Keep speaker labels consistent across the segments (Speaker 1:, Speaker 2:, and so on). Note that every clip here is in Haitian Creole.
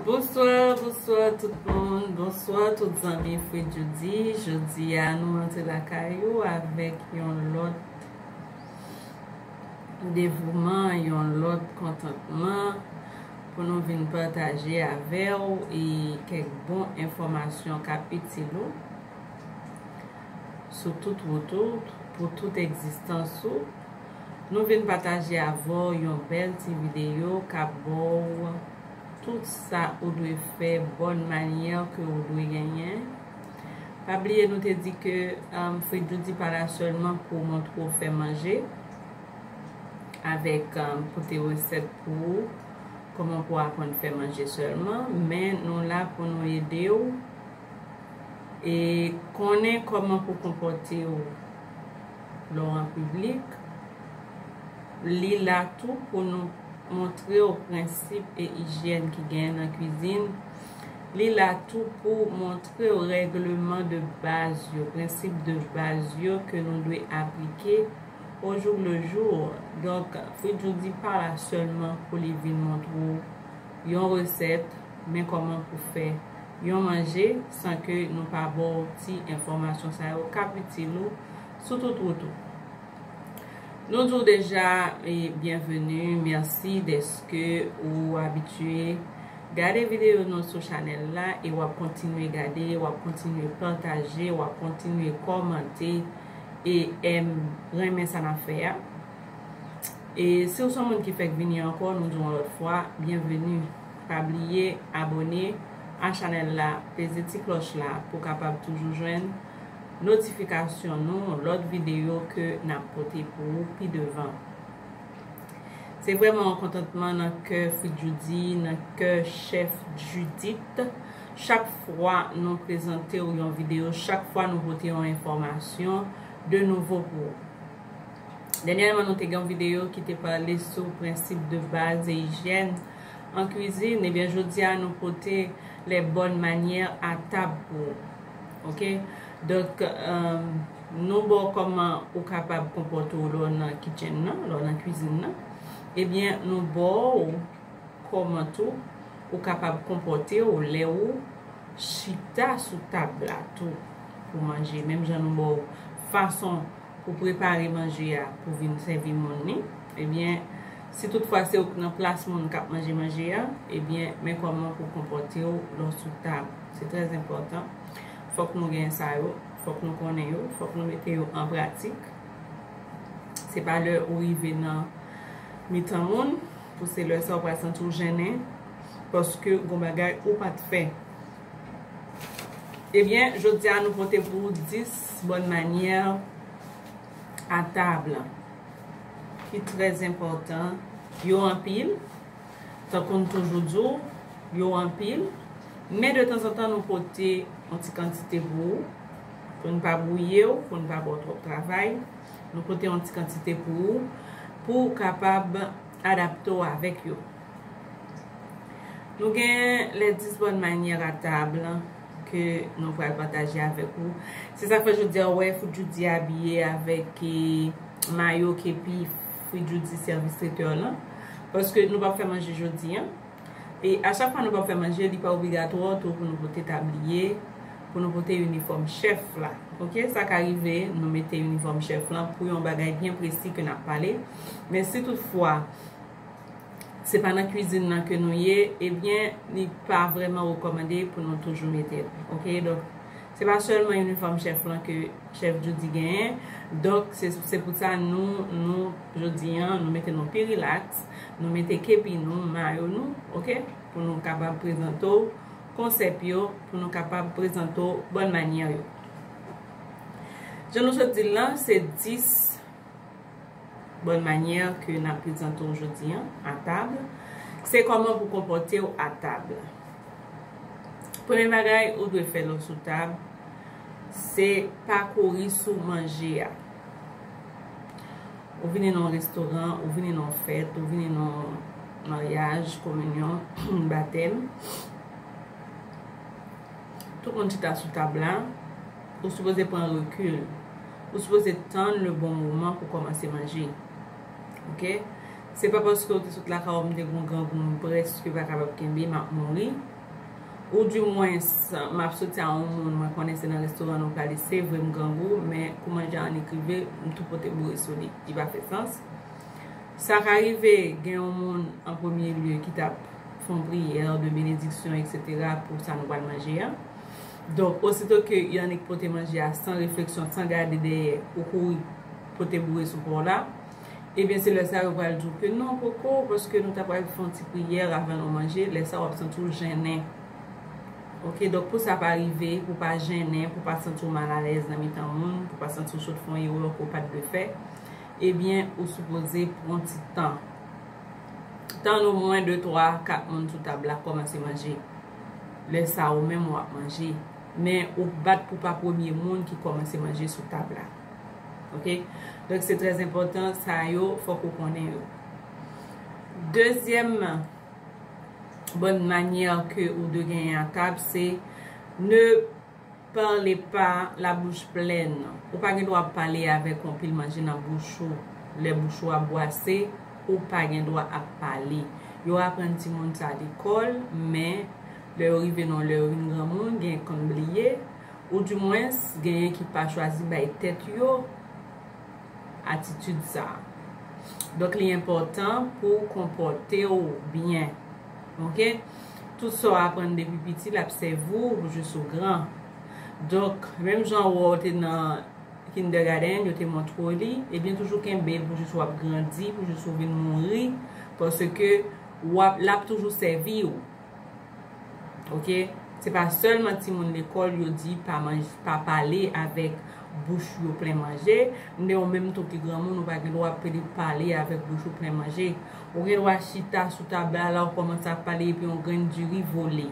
Speaker 1: Bonsoir bonsoir tout moun bonsoir tout zanmi fredjody jodia nou rantre lakay ou avèk yon lòt devouman yon lòt kontantman pou nou vin pataje avèw e kèk bon enfòmasyon kap itil ou sou tout wout ou pou tout egzistans ou. Nou vin pataje avèw yon bèl ti videyo kap baw tout sa ou dwe fè bòn manyè ke ou dwe genyen pa bliye nou te di ke fritjoudi pa la sèlman pou montre w fè manje avèk pote resèt pou ou kòman pou aprann fè manje sèlman men nou la pou nou edew e konnen kòman pou konpòte w. Lò an piblik, Li la tou pou nou montre w prensip e ijyèn ki genyen nan kwizin, Li la tou pou montre w règleman de baz yo, prensip de baz yo ke nou dwe aplike o jour le jour. Donk, Fridjou di pa la sèlman pou li vin montre w yon resèt, men kòman pou fè yon manje san ke nou pa ba w ti enfòmasyon sa yo kap itil ou. sou tout wout ou. Nou di w deja byenveni, mèsi dèske ou abitye gade videyo nou sou chanèl la e w ap kontinye gade, w ap kontinye pataje, w ap kontinye kòmante e renmen sa n ap fè a. E si w se yon moun ki fèk vini ankò, nou di w yon lòt fwa byenveni. Pa bliye abone a chanèl la, peze ti klòch la pou w kapab toujou jwenn. notifikasyon nou lòt videyo ke nap pote pou ou pi devan. Se vrèman yon kontantman nan kè Fridjoudy, nan kè chèf Judith, chak fwa nou prezante ou yon videyo, chak fwa nou pote yon enfòmasyon de nouvo pou ou. Dènyèman nou te gen yon videyo ki te pale sou prensip de baz e ijyèn an kwizin, ebyen jodi a nou pote les bonnes manières à table pou ou. Ok donk nou baw kòman ou kapab konpòte w lè w nan kitchen nan, lè w nan kwizin nan, ebyen nou baw kòman tou ou kapab konpòte w lè ou chita sou tab la tou pou manje menm jan nou baw fason pou prepare manje a pou vin sèvi moun ni, ebyen si tout fwa se ou ki nan plas moun kap manje manje a, ebyen men kòman pou konpòte w lè w sou tab. Se trè enpòtan. Fòk nou gen sa yo. Fòk nou konnen yo. Fòk nou mete yo an pratik. Se pa lè ou rive nan mitan moun pou se lè sa ou pral santi ou jennen paske gon bagay ou pa t fè. Ebyen, jodi a nou pote pou ou 10 bòn manyè a tab ki trè enpòtan. Yo anpil. Tankou n toujou di w, yo anpil, men de tanzantan nou pote yon ti kantite pou ou, pou n pa bwouye w, pou n pa ba w twòp travay, nou pote yon ti kantite pou ou, pou w kapab adapte w avèk yo. Nou gen les 10 bonnes manières à table ke nou pral pataje avèk ou. Se sa k fè jodi a ou wè Fout Djoudy abiye avèk mayo, kepi. Wi Djoudy sèvis tretèw lan paske nou pap fè manje jodi an e a chak fwa nou pap fè manje li pa obligatwò tou pou nou pote tabliye pou nou pote inifòm chèf la ok sa ka rive nou mete inifòm chèf lan pou yon bagay byen presi ke nap pale men si tout fwa se pa nan kwizin nan ke nou ye ebyen li pa vrèman rekòmande pou nou toujou metel ok donk. Se pa sèlman inifòm chèf lan ke chèf Djoudy genyen, donk se pou sa nou, nou, jodi an, nou mete nou pi rilaks, nou mete kepi nou, mayo nou, ok, pou nou kapab prezante w konsèp yo, pou nou kapab prezante w bòn manyè yo. Jan nou sot di l lan, se 10. Bòn manyè ke n ap prezante w jodi an, a tab, se kòman pou konpòte w a tab. Premye bagay ou dwe fè lè w sou tab, se pa kouri sou manje a. Ou vini nan yon restoran, ou vini nan yon fèt, ou vini nan yon maryaj, kominyon, batèm, tout moun chita sou tab la, Ou sipoze pran rekil. Ou sipoze tann le bon moman pou komanse manje. Ok. Se pa paske ou te sot lakay ou m te gon grangou m preske pa kapab kenbe m ap mouri. Ou di mwens m ap soti a yon moun mwen konnen se nan restoran nou prale se vre m grangou men kou manje an nik rive m tou pote boure sou li. Li pa fè sans. Sa ka rive gen yon moun an premye lye ki t ap fon priyè de benediksyon eksetera pou sa nou pral manje an. Donk, osito ke Yannick pote manje a san refleksyon, san gade dèyè, ou kouri pote boure sou pa w la, ebyen se lè sa yo pral di w ke non poko, paske nou ta pral fè yon ti priyè avan nou manje, lè sa w ap santi w jennen. Ok, donk pou sa pa rive, pou w pa jennen, pou w pa santi w mal alèz nan mitan moun, pou w pa santi w sot fè yon erè ke w pa t dwe fè, ebyen ou sipoze pran ti tan. Tann omwen de twa, kat moun sou tab la kòmanse manje. Lè sa ou menm wap manje. Men ou k bat pou pa premye moun ki kòmanse manje sou tab la. Ok. Donk se trè enpòtan sa yo fòk ou konnen yo. Dezyèm bòn manyè ke ou dwe genyen a tab se ne. Parle pa la bouche pleine. Ou pa gen dwa ap pale avek yon pil manje nan bouch ou. Le bouch ou a bwase, ou pa gen dwa ap pale. Yo aprann ti moun sa lekol, men le yo rive nan le yo vin granmoun, gen ki konn bliye, ou di mwens genyen ki pa chwazi bay tet yo atitid sa. Donk li enpotan pou konpote ou byen. Ok tout sa w aprann depi piti l ap sèvi w jis ou gran donk menm jan wè w te nan kindègadenn yo te montre w li ebyen toujou kenbe l pou jis w ap grandi pou jis ou vin mouri paske w ap l ap toujou sèvi w ok se pa sèlman timoun lekòl yo di pa manje pa pale avèk bouch yo plen manje men ou menm tou ki granmoun ou pa gen dwa pale avèk bouch ou plen manje. Ou gen dwa chita sou tab la, la ou kòmanse ap pale epi on grenn diri vole,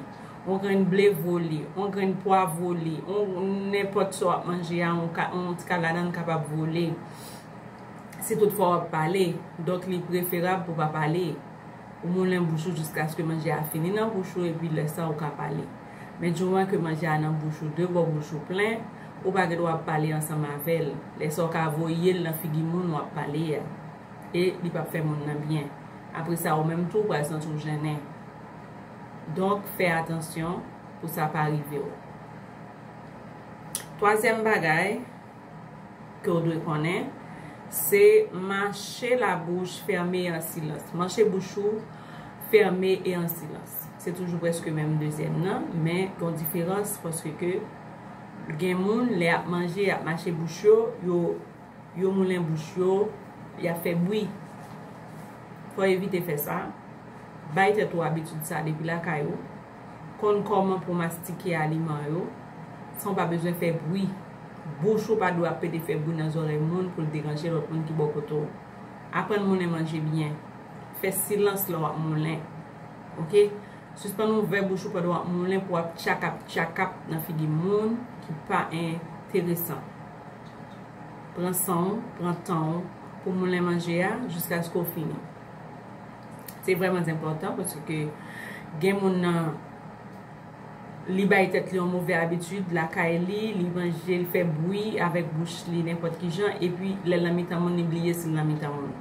Speaker 1: on grenn ble vole, on grenn pwa vole, on nenpòt sa w ap manje a, on ti kaladann kapab vole. Si tout fwa w ap pale, donk li preferab pou w pa pale. Ou moulen bouch ou jiskaske manje a fini nan bouch ou epi lè sa ou ka pale. Men dimoman ke manje a nan bouch ou, de bò bouch ou plen, ou pa gen dwa ap pale ansanm avè l. Lè sa ou ka voye l nan figi moun w ap pale a. e li pap fè moun nan byen apresa ou menm tou pral santi w jennen donk fè atansyon pou sa pa rive w twazyèm bagay ke w dwe konnen se mache la bouch fème e an silans mache bouch ou fème e an silans se toujou preske menm dezyèm nan men gon diferans paske ke gen moun lè yap manje yap mache bouch yo yo Yo moulen bouch yo, y ap fè bwi. Fò w evite fè sa. Bay tèt ou abitid sa depi lakay ou. Konn kòman pou w mastike aliman yo san w pa bezwen fè bwi. Bouch ou pa dwe ap pete fè bwi nan zòrèy moun pou l deranje lòt moun ki bò kote w. Aprann moulen manje byen. Fè silans lè w ap moulen. Ok. Sispann ouvè bouch ou pandan w ap moulen pou w ap tchakap tchakap nan figi moun ki pa enteresan. Pran san w, pran tan w pou moulen manje a jiskaske w fini. Se vrèman zenpòtan paske gen moun nan li bay tèt li yon move abitid lakay li, li manje, li fè bwi avèk bouch li nenpòt ki jan epi lè l nan mitan moun li bliye si l nan mitan moun.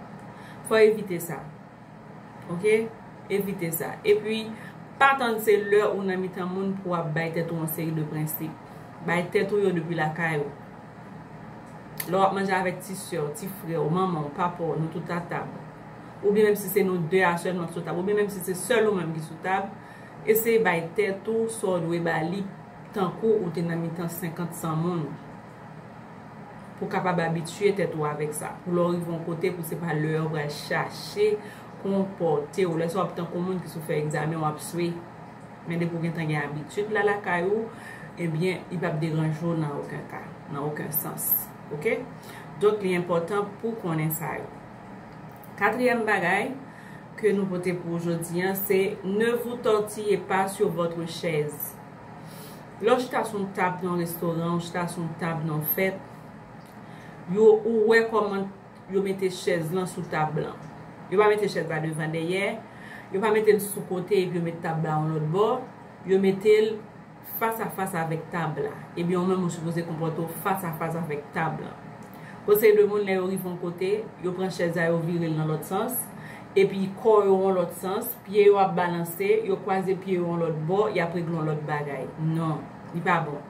Speaker 1: Fò w evite sa. Ok evite sa epi pa tann se lè ou nan mitan moun pou wap bay tèt ou yon seri de prensip bay tèt ou yo depi lakay ou lè wap manje avèk ti sè w ti frè w manman w papa w nou tout a tab oubyen menm si se nou 2 a sèlman ki sou tab oubyen menm si se sèl ou menm ki sou tab eseye bay tèt ou sa w dwe ba li tankou ou te nan mitan 50 100 moun. pou kapab abitye tèt ou avèk sa, pou lè w rive yon kote pou se pa lè a ou pral chache konpòte w, lè sa w ap tankou yon moun ki sou fè egzamen w ap swe, men depi w gentan gen abitid la lakay ou, ebyen li p ap deranje w nan oken ka, nan oken sans, ok, donk li enpòtan pou w konnen sa yo. Katriyèm bagay ke nou pote pou w jodi an se, ne vous tortillez pas sur votre chaise. Lè w chita sou yon tab nan yon restoran, ou chita sou yon tab nan yon fèt, yo ou wè kòman yo mete chèz lan sou tab lan. Yo pa mete chèz la devan dèyè, yo pa mete l sou kote epi yo mete tab la yon lòt bò, yo mete l fas a fas avèk tab la. Ebyen ou menm ou sipoze konpòte w fas a fas avèk tab lan. Yon seri de moun lè yo rive yon kote, yo pran chèz la yo vire l nan lòt sans, epi kò yo yon lòt sans, Pye yo ap balanse, yo kwaze pye yo yon lòt bò, y ap regle yon lòt bagay. Non. Li pa bon.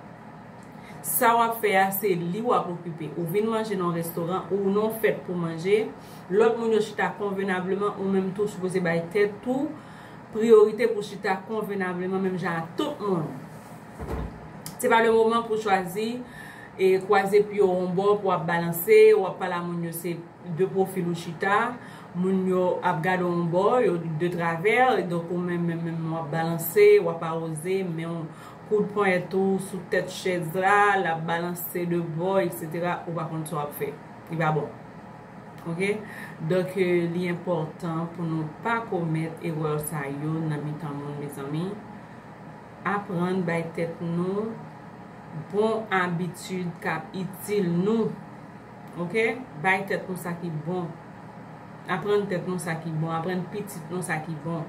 Speaker 1: Sa w ap fè a, se li w ap okipe. Ou vin manje nan yon restoran, ou nan yon fèt pou manje, lòt moun yo chita konvenableman, ou menm tou w sipoze bay tèt ou priyorite pou w chita konvenableman menm jan ak tout moun. Se pa le moman pou w chwazi e kwaze pye w yon bò pou w ap balanse, w ap pale a moun yo se. 2 pwofil ou chita, moun yo ap gade w yon bò, yo de travè, donk ou menm menm menm w ap balanse, w ap awoze, men w koud ponyèt ou sou tèt chèz la, l ap balanse de bò, eksetera, ou pa konn sa w ap fè. Li pa bon. Ok? Donk li enpòtan pou nou pa komèt erè sa yo nan mitan moun mezanmi. Aprann bay tèt nou bon abitid k ap itil nou. Ok bay tèt nou sa ki bon aprann tèt nou sa ki bon aprann pitit nou sa ki bon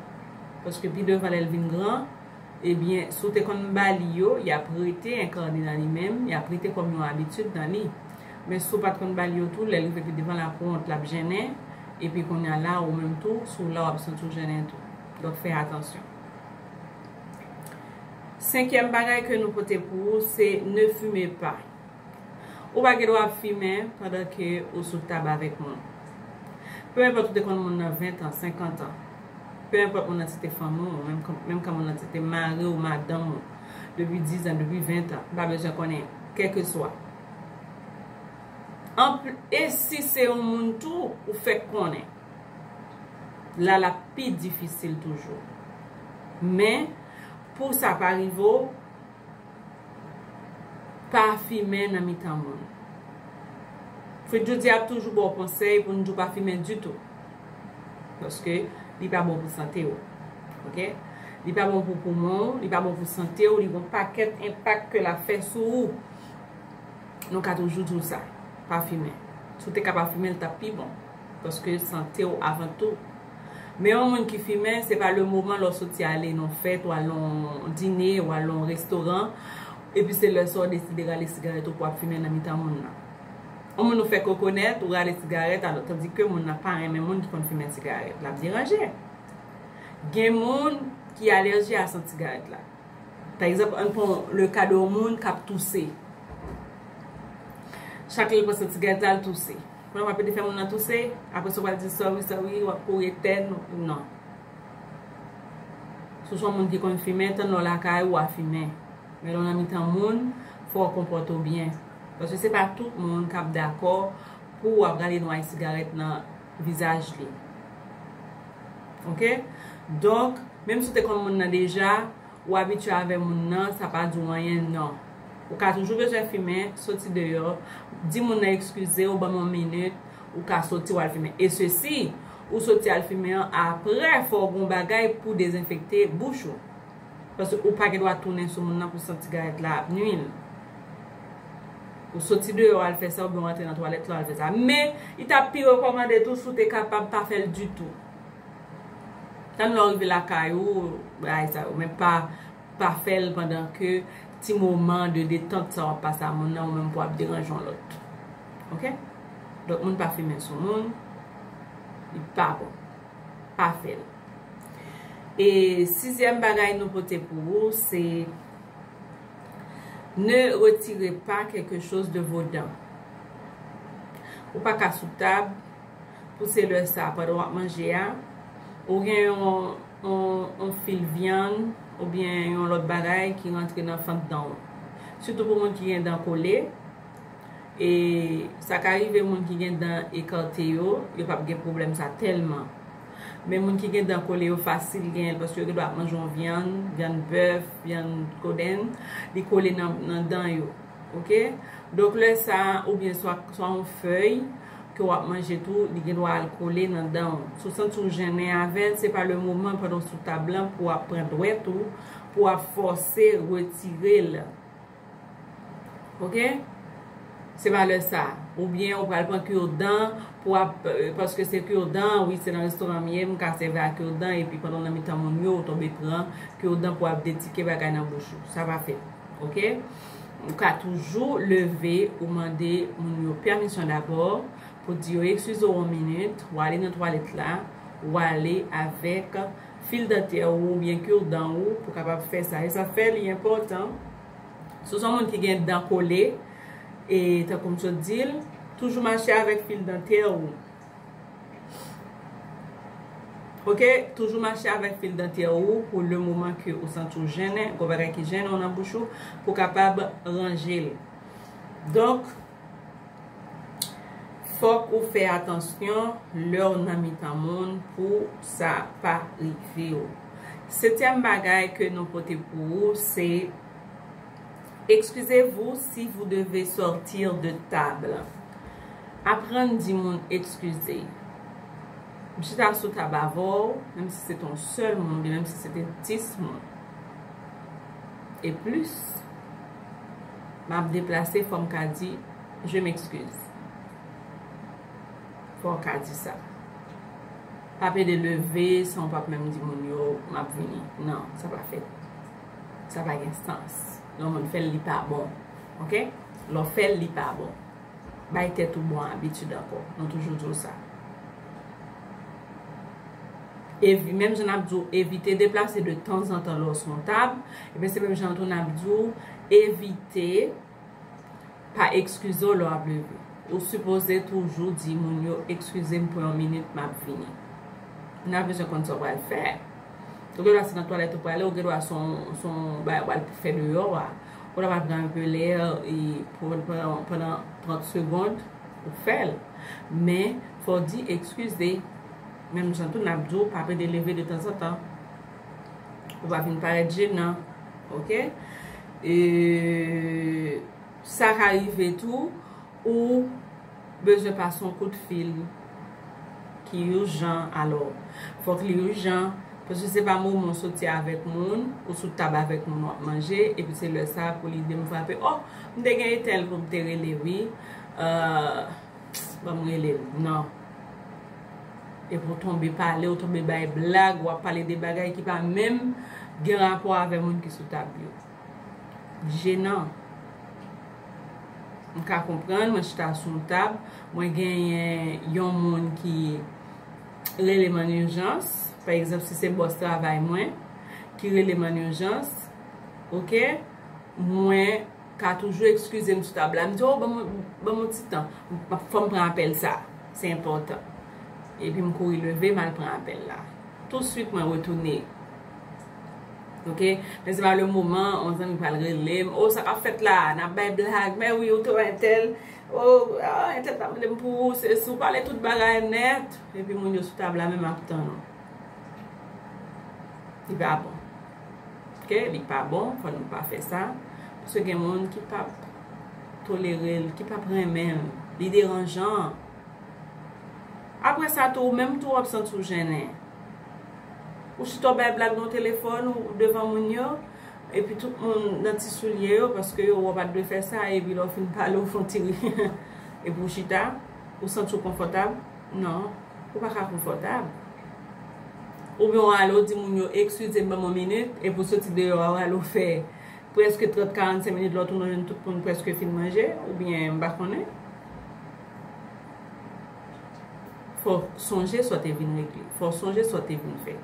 Speaker 1: paske pi devan lèl vin gran ebyen si w te konn bali yo yap rete enkane nan li menm yap rete kòm yon abitid nan li men si w pat konn bali yo tou lèl rive pi devan lap wont lap jennen epi kounya la ou menm tou si w la wap santi w jennen tou donk fè atansyon. Senkyèm bagay ke nou pote pou ou se ne fume pas. Ou pa gen dwa ap fimen pandan ke ou sou tab avèk moun. Peu enpòt ou te konn moun nan 20 tan, 50 tan. Peu enpòt moun nan se te fanmi w, menm kan moun nan se te mari w, madanm ou, depi 10 an, depi 20 tan, m pa bezwen konnen, kèlkeswa. E si se yon moun tou ou fèk konnen? La l ap pi difisil toujou. Men, pou sa pa rive w, pa fimen nan mitan moun. Fritjoudy ap toujou ba w konsèy pou n di w pa fimen ditou. Paske li pa bon pou sante w. Ok? Li pa bon pou poumon w, li pa bon pou sante w, li gon pakèt enpak ke l ap fè sou ou. Nou ka toujou di w sa. Pa fimen. Si w te ka pa fimen l t ap pi bon. Paske sante w avan tou. Men yon moun ki fimen, se pa le moman lè w soti ale nan yon fèt, ou al nan yon dine, ou al nan yon restoran, epi se lè sa w deside rale sigarèt ou pou w ap fimen nan mitan moun nan. Yon moun ou fèk rekonèt, ou rale sigarèt, alò tandi ke moun nan pa renmen moun ki konn fimen sigarèt. L ap deranje. Gen moun ki alèji a sant sigarèt la. Pa egzanp, ann pran le ka de yon moun k ap touse. Chak lè l pran sant sigarèt la, l touse. Kounye a wap ede fè moun nan touse, apre sa ou pral di sorry sorry, wap kouri etèn, non. Si w se yon moun ki konn fimen, tann lè w lakay ou wa fimen. Men lè w nan mitan moun, fò w konpòte w byen. Paske se pa tout moun kap dakò pou wap rale nway sigarèt nan vizaj li. Ok? Donk, menm si w te konn moun nan deja, Ou abitye avè moun nan, sa pa di w anyen non. Ou ka toujou bezwen fimen, soti deyò, di moun nan ekskize w, ban m yon minit, ou ka soti w al fimen. E se si ou soti al fimen an, aprè fò w gen yon bagay pou w dezenfekte bouch ou. Paske ou pa gen dwa tounen sou moun nan pou w santi sigarèt la ap nui l. Ou soti deyò al fè sa oubyen w antre nan twalèt la w al fè sa. Men, li ta pi rekòmande tou si w te kapab pa fè l ditou. Tann lè w rive lakay ou bagay sa yo men pa fè l pandan ke ti moman de detant sa w ap pase a moun nan ou menm pou ap deranje yon lòt ok donk moun pa fimen sou moun li pa bon pa fè l e sizyèm bagay nou pote pou ou se ne retire pa kèlke choz de vo dan ou pa ka sou tab Pou se lè sa a pandan w ap manje a, ou gen yon fil vyann oubyen yon lòt bagay ki rantre nan fant dan w. Sitou pou moun ki gen dan kole, e sa ka rive moun ki gen dan ekate yo, yo pa p gen pwoblèm sa tèlman. Men moun ki gen dan kole yo fasil genyen l paske yo gen dwa ap manje yon vyann, vyann bèf, vyann kodenn, li kole nan dan yo. ok donk lè sa ou byen swa yon fèy ke wap manje tou li gen dwa al kole nan danw si w santi w jennen avèl se pa le moman pandan w sou tab lan pou wap pran dwèt ou pou wap fòse retirel ok se pa lè sa ou byen ou pral pran kur dan pou wap paske se kur dan wi se nan restoran m ye m ka sèvi a kur dan epi pandan w nan mitan moun yo ou tonbe pran kur dan pou wap detike bagay nan bouch ou sa pa fèt ok. Ou ka toujou leve ou mande moun yo pèmisyon dabò, pou di yo ekskize w yon minit, w ale nan twalèt la, w ale avèk fil dantè ou oubyen kir dan ou pou kapab fè sa. E sa fè li enpòtan, si w se yon moun ki gen dan kole, e tankou m sot di l, toujou mache avèk fil dantè ou. Ok toujou mache avèk fil dantyè ou pou le moman ke ou santi ou jennen, gwo bagay ki jennen ou nan bouch ou pou w kapab ranje l. Donk fòk ou fè atansyon lè w nan mitan moun pou sa pa rive w. Setyèm bagay ke nou pote pou ou se. Excusez-vous si vous devez sortir de table Aprann di moun ekskize M chita sou tab avè w, menm si se te yon sèl moun oubyen menm si se te dis moun e plis M ap deplase fò m ka di Je m'excuse Fò w ka di sa Pa pede leve san w pa menm di moun yo M ap vini Nan, sa pa fèt. Sa pa gen sans. Lè yon moun fè l, li pa bon. Ok? Lè w fè l, li pa bon. Bay tèt ou bon abitid ankò. Nou toujou di w sa. Evi, menm jan n ap di w evite deplase de tanzantan lè w sou yon tab, e ben se menm jan tou n ap di w evite. Pa ekskize w lè w ap leve. Ou sipoze toujou di moun yo ekskize m pou yon minit m ap vini. N ap bezwen konn sa w pral fè. Ou gen dwa se nan twalèt ou prale, ou gen dwa se yon bagay ou pral fè deyò a. Ou ta pral pran anpe lè pandan 30 segond, ou fè l. Men, fò w di ekskize. Menm jan tou n ap di w pa pede leve detanzantan. Ou pa vin parèt jenan ok e sa ka rive tou ou bezwen pase yon kout fil ki urjan alò fòk li urjan paske se pa moman ou soti avèk moun ou sou tab avèk moun wap manje epi se lè sa pou lide m frape oh m te gen etèl pou m te rele wi euh. Psst banm relel nan Epi ou tonbe pale ou tonbe bay blag wap pale de bagay ki pa menm gen rapò avè moun ki sou tab yo Jenan M ka konprann mwen chita sou yon tab mwen genyen yon moun ki relem an urjans pa egzanp si se bòs travay mwen ki relem an urjans ok mwen ka toujou ekskize m sou tab la. M di, o, ban m yon ti tan. Fò m pran apèl sa a. Se enpòtan. Epi m kouri leve, m al pran apèl la. Tousuit mwen retounen. Ok? Men se pa le moman, yon zanmi pral rele m. O, sa k ap fèt la a? N ap bay blag. Mè wi, ou te wè entèl? O, entèl ta mande m pou ou, se si ou pale tout bagay nèt. Epi moun yo sou tab la menm ap tann ou. Li pa bon. Ke li pa bon fò nou pa fè sa paske gen moun ki pap tolere l, ki pap renmen l, li deranjan. Aprè sa tou ou menm tou wap santi w jennen. Ou chita w bay blag nan telefòn ou devan moun yo epi tout moun nan ti soulye yo paske yo wè w pat dwe fè sa epi lè w fin pale w fon ti ri epi w chita ou santi w konfòtab. Non, ou pa ka konfòtab. Ou gen w ale ou di moun yo ekskize m ban m yon minit epi ou soti deyò a ou ale ou fè prèske 30, 45 minit lè w tounen w jwenn tout moun prèske fin manje oubyen m pa konnen. Fò w sonje sa w te vin regle. Fò w sonje sa w te vin fè.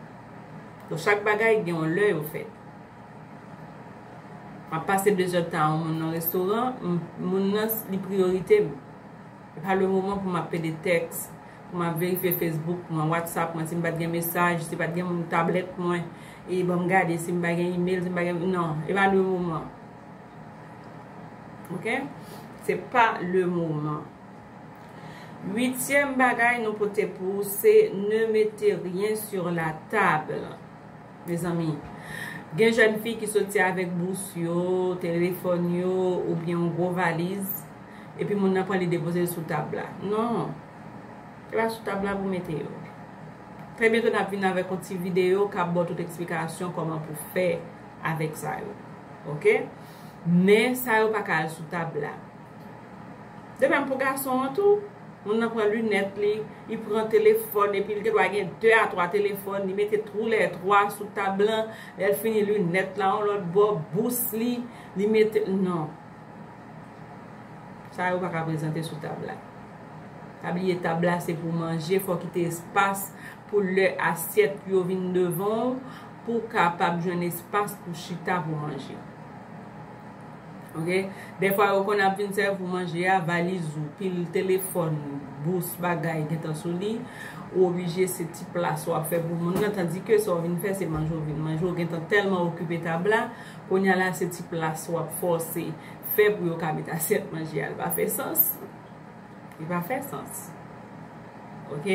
Speaker 1: Donk chak bagay gen yon lè yo fèt. M ap pase 2 zè tan a yon moun nan restoran, moun nan li priyorite m. E pa le moman pou m ap pede tèks, pou m ap verifye Facebook mwen, WhatsApp mwen, si m pa t gen mesaj, si pa t gen moun tablèt mwen, e ban m gade si m pa gen email, si m pa gen, non, e pa le moman. Ok? Se pa le moman. Uityèm bagay nou pote pou ou se, ne mete ryen sur la table. Mezanmi. Gen jèn fi ki soti avèk bous yo, telefòn yo, oubyen yon gwo valiz, epi moun nan pran li depoze l sou tab la. Non. Se pa sou tab la pou mete yo. Trè byento n ap vin avèk yon ti videyo k ap ba w tout eksplikasyon kòman pou fè avèk sa yo. Ok? Men, sa yo pa ka al sou tab la. De menm pou gason an tou, moun nan pran linèt li, li pran telefòn epi li te dwa gen 2 a 3 telefòn, li mete tou lè 3 sou tab lan, lè l fini linèt la yon lòt bò, bous li, li mete, non. Sa yo pa ka prezante sou tab la. Pa bliye tab la se pou manje, fò kite espas pou lè asyèt yo vin devan w, pou kapab jwenn espas pou chita pou manje. Ok dèfwa yo konn ap vin sèvi pou manje a valiz ou pil telefòn bous bagay gentan sou li ou oblije se ti plas wap fè pou moun nan tandi ke sa w vin fè se manje w vin manje w gentan tèlman okipe tab la kounya la se ti plas wap fòse fè pou yo ka met asyèt manje a li pa fè sans li pa fè sans ok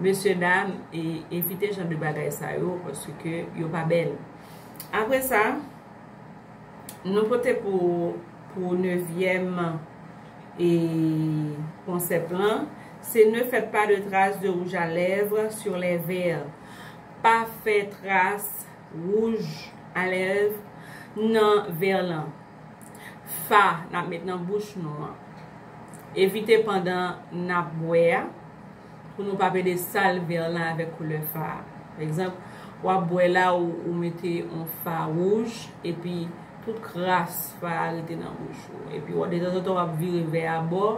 Speaker 1: mesye dam evite jan de bagay sa yo paske yo pa bèl apre sa. Nou pote pou ou pou nevyèm e konsèp lan, se ne fèt pa de tras de wouj a lèv sur lè vè. Pa fè tras wouj a lèv nan vè lan. Fa n ap met nan bouch nou an. Evite pandan n ap bwè a. Pou nou pa pede sal vè lan avèk koulè fa a. Pa egzanp, wap bwè la ou mete on fa wouj epi tout kras fa a rete nan bouch ou. Epi wap detanzantan wap vire vè a bò,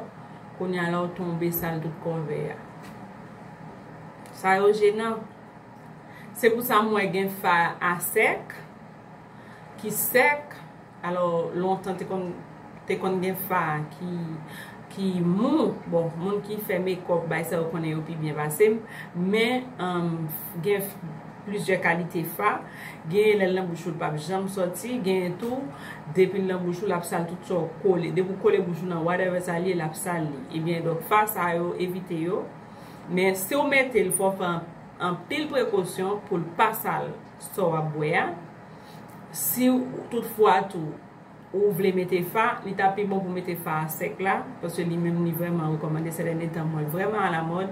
Speaker 1: kounye a la ou tonbe sal tout kò vè a. Sa yo jenan. Se pou sa m wè gen fa a sèk, ki sèk. Alò lontan te konn te konn gen fa ki ki mou bon moun ki fè mekòp bay sa yo konnen yo pi byen pase m men gen plizyè kalite fa genyen lè l nan bouch ou l pap janm sòti genyen tou depi l nan bouch ou l ap sal tout sa w kole depi w kole bouch ou nan whatever sa l ye l ap sal li ebyen donk fa sa yo evite yo men si w mete l fò w pran anpil prekosyon pou l pa sal sa w ap bwè a. Si tout fwa tou ou vle mete fa, li ta pi bon pou mete fa a sèk la, paske li menm li vrèman rekòmande sè dènye tan mwen vrèman alamòd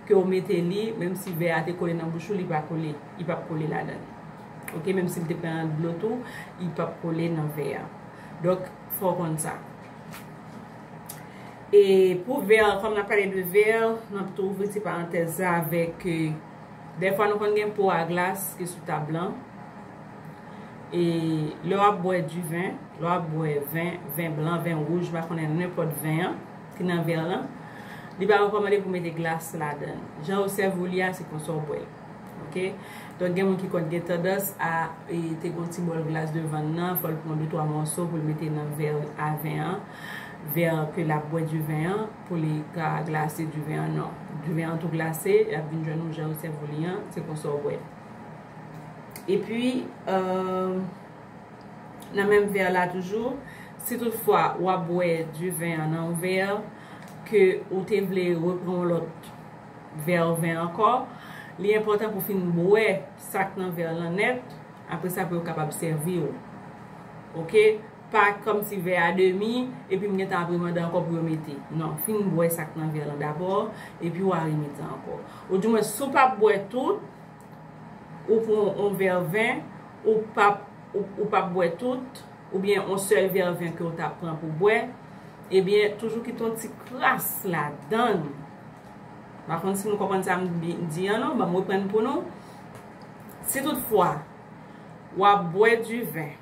Speaker 1: ke ou mete li menm si vè a te kole nan bouch ou li pa kole, li pap kole ladan li ok menm si li te pran nan dlo tou li pap kole nan vè a donk fò ou konn sa. E pou vè, kòm nap pale de vè, nap tou ouvri ti parantèz sa avèk. Dèfwa nou konn gen po a glas ki sou tab lan. E lè w ap bwè di ven, lè w ap bwè ven, ven blan, ven wouj, m pa konnen nenpòt ven an ki nan vè lan, li pa rekòmande pou mete glas ladan l. Jan yo sèvi w li a, se konsa w bwè l. Ok? Donk gen moun ki konn gen tandans a te gon ti bòl glas devan l nan, fò l pran de twa mòso pou l mete nan vè a ven an, vè ke l ap bwè di ven an. Pou li ka glase diven an non. Diven an tou glase, lap vin jwenn ou jan yo sèv ou li an, se konsa w bwè. Epi, nan menm vè la toujou, si tout fwa wap bwè diven an nan yon vè, ke ou te vle repran yon lòt vè ven ankò, li enpòtan pou fin bwè sak nan vè lan nèt, apre sa pou yo kapab sèvi ou. Ok. Pa kom ti vè a demi, epi m gentan ap remande anko pou yo mete. Non, fin bwè sak nan vè lan dabò, epi wa remete anko. Ou di mwen si w pap bwè tout, ou pran on vè vin, ou pap, ou pap bwè tout, oubyen on sèl vè vin ke w ta pran pou bwè, ebyen toujou kite on ti kras ladann. Pa konn si nou konprann sa m di an non, banm reprann pou nou. Si tout fwa, wap bwè di vin.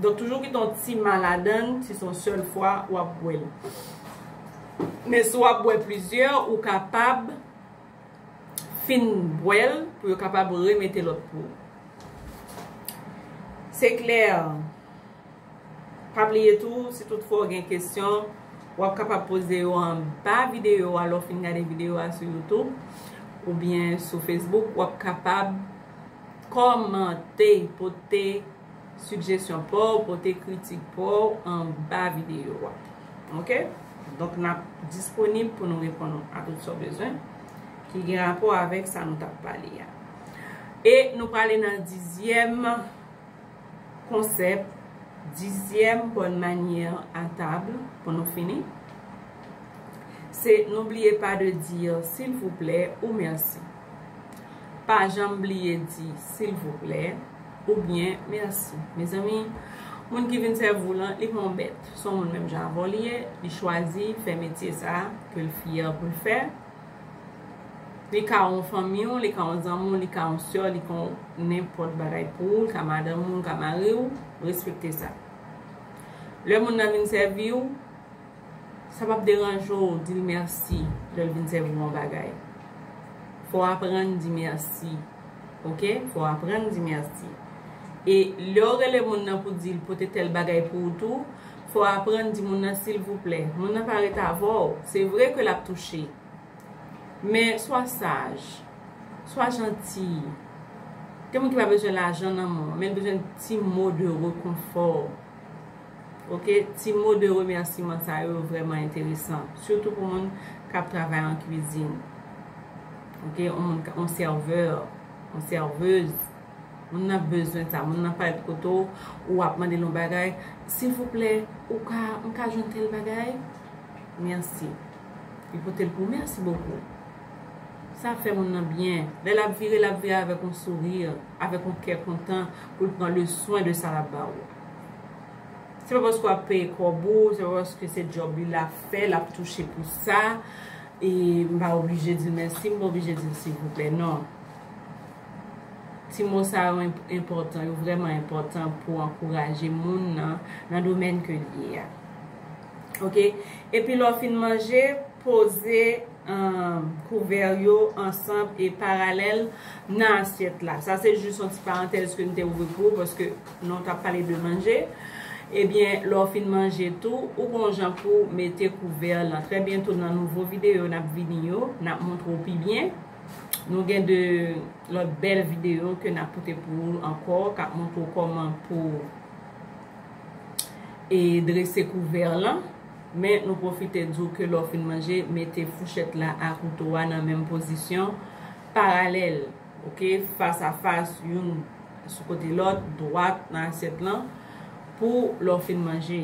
Speaker 1: Donk toujou kite yon ti ma ladan l si se yon sèl fwa w ap bwè l. Men si w ap bwè plizyè ou kapab fin bwè l pou yo kapab remete lòt pou ou. Se klè, pa bliye tou si tout fwa w gen kesyon w ap kapab poze yo anba videyo a lè w fin gade videyo a sou youtube oubyen sou facebook w ap kapab kòmante pote Suggestion paw pote kritik paw anba video a ok donk nap disponib pou nou reponn ou a tout sa w bezwen ki gen rapò avèk sa nou tap pale a e nou prale nan dizyèm konsèp dizyèm bonne manière à table pou nou fini se n'oubliez pas de dire s'il vous plaît ou merci. pa janm bliye di silvouplè oubyen mèsi mezanmi moun ki vin sèvi w lan li pa yon bèt se yon moun menm jan avè w li ye li chwazi fè metye sa ke l fyè pou l fè li ka yon fanmi w li ka yon zanmi w li ka yon sè w li ka yon nenpòt bagay pou ou li ka madanm ou li ka mari w respekte sa lè moun nan vin sèvi w Sa pap deranje w di l mèsi lè l vin sèvi w yon bagay. Fò w aprann di mèsi. Ok, fò w aprann di mèsi. E lè w rele moun nan pou w di l pote tèl bagay pou ou tou, fò w aprann di moun nan silvouplè. Moun nan pa ret avè w. Se vre ke l ap touche. Men, swa saj. Swa janti. Gen moun ki pa bezwen lajan nan men w, men l bezwen ti mo de rekonfò. Ok ti mo de remèsiman sa yo vrèman enteresan sitou pou moun kap travay an kwizin ok on sèvè on sèvez moun nan bezwen sa moun nan parèt kote w ou wap mande l on bagay silvouplè ou ka m ka jwenn tèl bagay mèsi li pote l pou w mèsi bokou sa fè moun nan byen lè lap vire lap vire avèk on souri avèk on kè kontan pou l pran le swen de sa lap ba w. Se pa paske wap peye kòb ou, se pa paske se djòb li lap fè, lap touche pou sa, e m pa oblije di l mèsi, m pa oblije di l silvouplè non. Ti mo sa yo enpòtan, yo vrèman enpòtan pou ankouraje moun nan, nan domèn ke l ye a. Ok, epi lè w fin manje, poze kouvè yo ansanm e paralèl nan asyèt la. Sa se jis yon ti parantèz ke m te ouvri pou ou paske. Lè w t ap pale de manje, ebyen lè w fin manje tou, ou gen yon jan pou w mete kouvè lan. Trè byento nan nouvo videyo n ap vini yo, n ap montre w pi byen. Nou gen 2 lòt bèl videyo ke n ap pote pou ou ankò k ap montre w kòman pou w e drese kouvè lan. Men nou pwofite di w ke lè w fin manje, mete fouchèt la a kouto a nan menm pozisyon paralèl. Ok, fas a fas, youn sou kote lòt, dwat nan asyèt lan, pou lè w fin manje.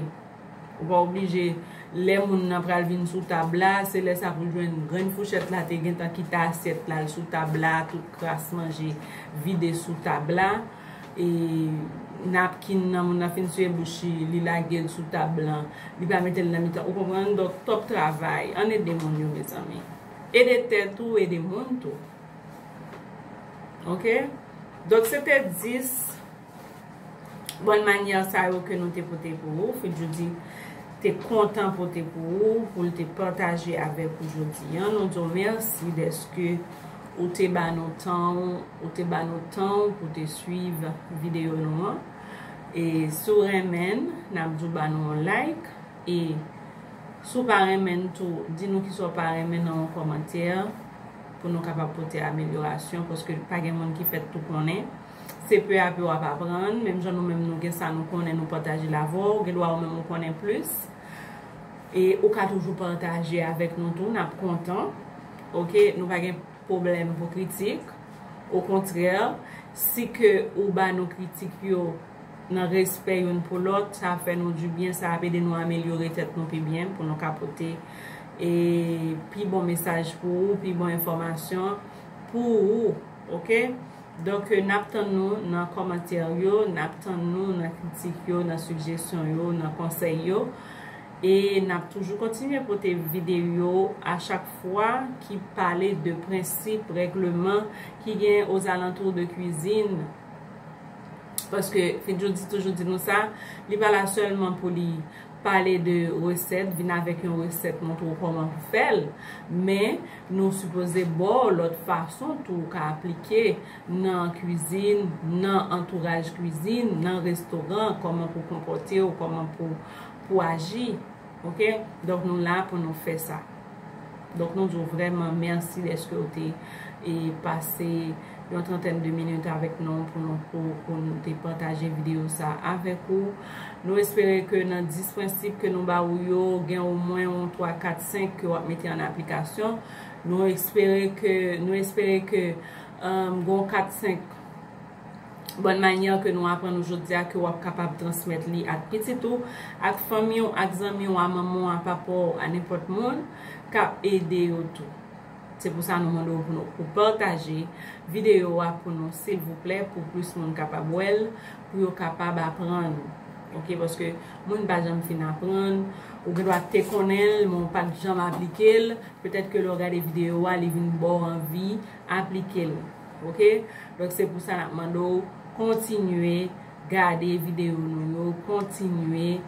Speaker 1: Ou pa oblije, lè moun nan pral vin sou tab la, se lè sa pou l jwenn grenn fouchèt la te gentan kite asyèt la l sou tab la, tout kras manje vide sou tab la, e napkin nan moun nan fin siye bouch li, li lage l sou tab lan, li pa mete l nan mitan, ou konprann? Donk, twòp travay. Ann ede moun yo mezanmi. Ede tèt ou, ede moun tou. Ok, donk se te 10 Bon manyè sa yo ke nou te pote pou ou, ke Djoudy te kontan pote pou ou, pou l te pataje avèk ou jodi an. Nou di w mèsi dèske ou te ba nou tan ou, ou te ba nou tan ou pou te swiv videyo nou an. E si w renmen, n ap di w ba nou yon like. E si w pa renmen tou, di nou kisa w pa renmen nan yon kòmantè. pou nou kapab pote amelyorasyon paske pa gen moun ki fèt tou konnen. Se pè a pè w ap aprann, menm jan nou menm nou gen sa nou konnen nou pataje l avè w, gen dwa ou menm ou konnen plis. E ou ka toujou pataje avèk nou tou, n ap kontan. Ok, nou pa gen pwoblèm pou kritik. Okontrè, si ke ou ba nou kritik yo. nan respè youn pou lòt, sa ap fè nou di byen, sa ap ede nou amelyore tèt nou pi byen pou nou ka pote e pi bon mesaj pou ou, pi bon enfòmasyon pou ou ok, donk nap tann nou nan kòmantè yo, nap tann nou nan kritik yo, nan sigjesyon yo, nan konsèy yo e nap toujou kontinye pote videyo a chak fwa ki pale de prensip, règleman ki gen ozalantou de kwizin. paske Fedjou toujou di nou sa, li pa la sèlman pou li pale de resèt, vin avèk yon resèt montre w kòman pou fè l, men nou sipoze ba w lòt fason tou ou ka aplike nan kwizin, nan antouraj kwizin, nan restoran, kòman pou w konpòte w, kòman pou w aji. Ok donk nou la pou nou fè sa donk nou di w vrèman mèsi dèske w te pase yon trantèn de minit avèk nou pou nou pou nou te pataje videyo sa avèk ou nou espere ke nan 10 prensip ke nou ba ou yo gen o mwen yon 3 4 5 ke w ap mete an aplikasyon nou espere ke nou espere ke gen yon 4 5 Bòn manyè ke nou aprann ou jodi a ke w ap kapab transmèt li ak pitit ou, ak fanmi w, ak zanmi w, a manman w, a papa w, a nenpòt moun, ka ede yo tou. Se pou sa nou mande w pou nou pou pataje videyo a pou nou silvouplè pou plis moun kapab wè l, pou yo kapab aprann. Ok paske moun pa janm fin aprann, ou gen dwa te konnen l men w pat janm aplike l, petèt ke lè w gade videyo a li vin ba w anvi. aplike l ok donk se pou sa nap mande w kontinye gade videyo nou yo kontinye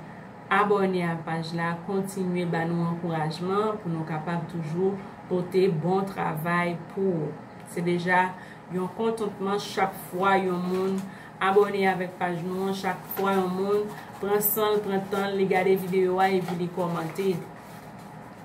Speaker 1: abòne a paj la kontinye ba nou ankourajman pou nou kapab toujou pote bon travay pou ou se deja yon kontantman chak fwa yon moun abòne avèk paj nou an chak fwa yon moun pran san l pran tan l li gade videyo a epi li kòmante.